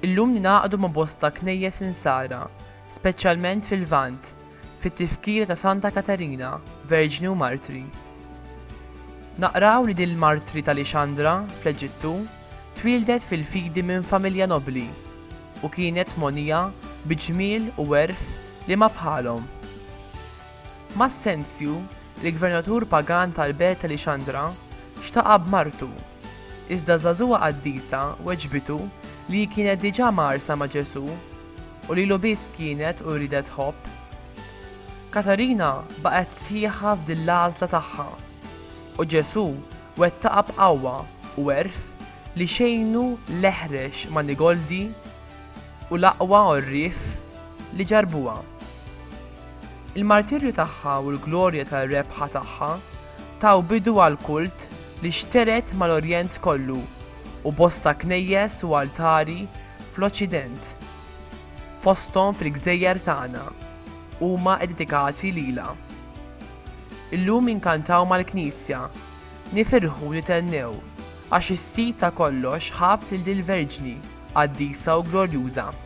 Illum ningħaqdu ma' bosta knejjes insara, speċjalment fil-Lvant, fit-tifkira ta' Santa Katerina, Verġni u Martri. Naqraw li din l-martri ta' Lixandra, fl-Eġittu, twieldet fil-fidi minn familja nobbli u kienet mogħnija bi ġmiel u għerf li ma bħalhom. Massenzju, il-gvernatur pagan tal-belt ta' Lixandra, xtaqha b'martu, iżda żagħżugħa qaddisa weġbitu li hi kienet diġà mgħarrsa ma' Ġesù, u lilu biss kienet u riedet tħobb. Katarina baqgħet sħiħa f'din l-għażla tagħha, u Ġesù wettaqha b'qawwa u għerf li xejnu l-eħrex manigoldi u l-aqwa għorrief li ġarrbuha. Il-martirju tagħha u l-glorja tar-rebħa tagħha taw bidu għall-kult li xtered mal-Orjent kollu u bosta knejjes u altari fl-Oċċident, fosthom fil-gżejjer tagħna, huma iddedikati lilha. Illum inkantaw mal-Knisja, nifirħu u nithennew għax is-sid ta' kollox ħabb lil dil-Verġni qaddisa u glorjuża.